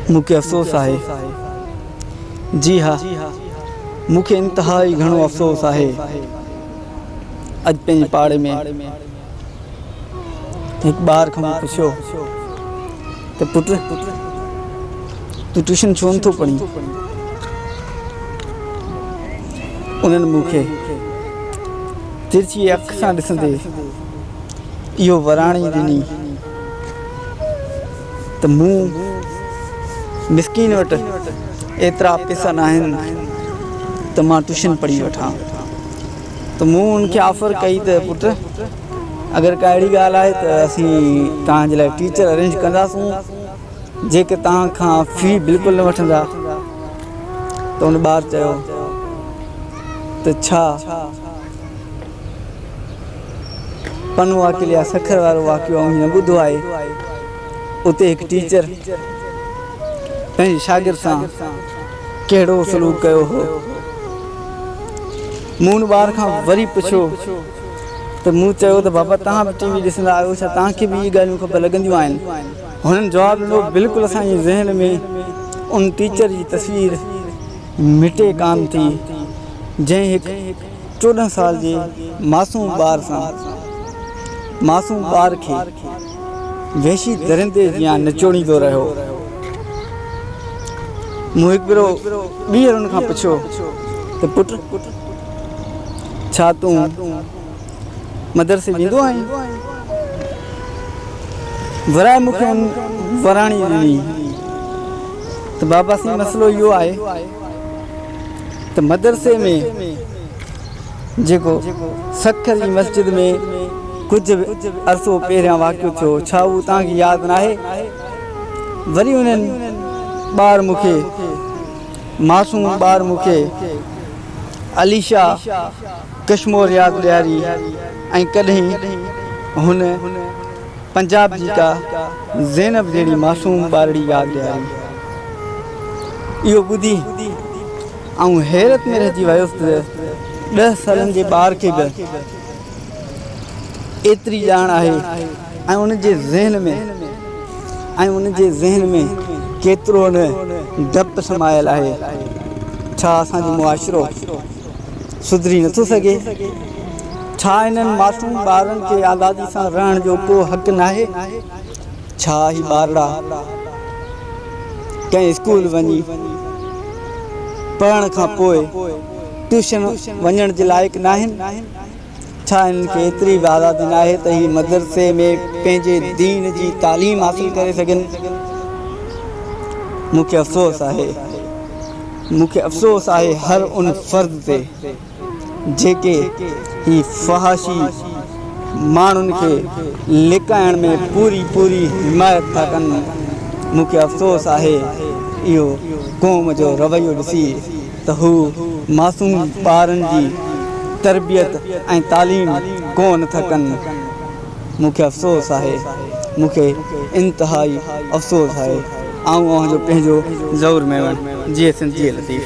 مون کي افسوس آهي. جي ها، مون کي انتهائي گهڻو افسوس آهي. اڄ پنهنجي پاڙي ۾ هڪ ٻار کان مون پڇيو ته پٽ، تون ٽيوشن ڇو نه ٿو پڙهين؟ انهن مون کي ترڇيء اک سان ڏسندي اهو وراڻي ڏني. ته مون مسڪين وٽ ايترا پيسا ناهن ته مان ٽيوشن پڙهي وٺان ته مون ان کي آفر ڪئي ته پٽ اگر ڪا اهڙي ڳالهه آهي ته اسين توهان جي لاء ٽيچر ارينج ڪنداسون جيڪي توهان کان في بلڪل نه وٺندا ته ان ٻار چيو ته ڇا پنهون واڪل يا سکر وارو واقعو آئون هيئن ٻڌو آهي. اتي هڪ ٽيچر پنهنجي شاگرد سان ڪهڙو سلوڪ ڪيو هو. مون ان ٻار کان وري پڇيو ته مون چيو ته بابا توهان به ٽي وي ڏسندا آهيو ڇا توهان کي به اهي ڳالهيون خبر لڳنديون آهن؟ هنن جواب ڏنو بلڪل اسان جي ذهن ۾ ان ٽيچر جي تصوير مٽي ڪانه ٿي جنهن هڪ چوڏهن سال جي معصوم ٻار سان معصوم ٻار کي وحشي درندي جيان نچوڙيندو رهيو. مون هڪ ڀيرو ٻيهر ان کان پڇيو ته پٽ ڇا تون مدرسي ويندو آهين؟ ورائي مون کي ان وراڻي ڏني ته بابا سائين مسئلو اهو آهي ته مدرسي ۾ جيڪو سکر جي مسجد ۾ ڪجهه عرصو پهريان واقعو ٿيو ڇا اهو توهان کي ياد ناهي؟ وري انهن ٻار مون کي معصوم ٻار مون کي عليشا ڪشمور ياد ڏياري ۽ ڪڏهن هن پنجاب جي ڪا زينب جهڙي معصوم ٻارڙي ياد ڏياري. اهو ٻڌي آئون حيرت ۾ رهجي ويس ته ڏهه سالن جي ٻار کي به ايتري ڄاڻ آهي ۽ ان جي ذهن ۾ ۽ ان جي ذهن ۾ ڪيترو نه ڊپ سمايل آهي. ڇا اسان جو معاشرو. سڌري نه ٿو سگهي؟ ڇا هنن معصوم ٻارڙن کي آزادي سان رهڻ جو ڪو حق ناهي؟ ڇا هي ٻارڙا ڪنهن اسڪول وڃي پڙهڻ کان پوء ٽيوشن وڃڻ جي لائق ناهن؟ ڇا هنن کي ايتري به آزادي ناهي ته هي مدرسي ۾ پنهنجي دين جي تعليم حاصل ڪري سگهن؟ مون کي افسوس آهي. مون کي افسوس آهي هر ان فرد تي جيڪي هي فحاشي ماڻهن کي لڪائڻ ۾ پوري پوري حمايت ٿا ڪن. مون کي افسوس آهي اهو قوم جو رويو ڏسي. ته هو معصوم ٻارن جي تربيت ۽ تعليم ڪو نه ٿا ڪن. مون کي افسوس آهي. مون کي انتهائي افسوس آهي. آئون اوهان جو پنهنجو ضرور ميوڻ. جيئي سنڌ جيئي لطيف.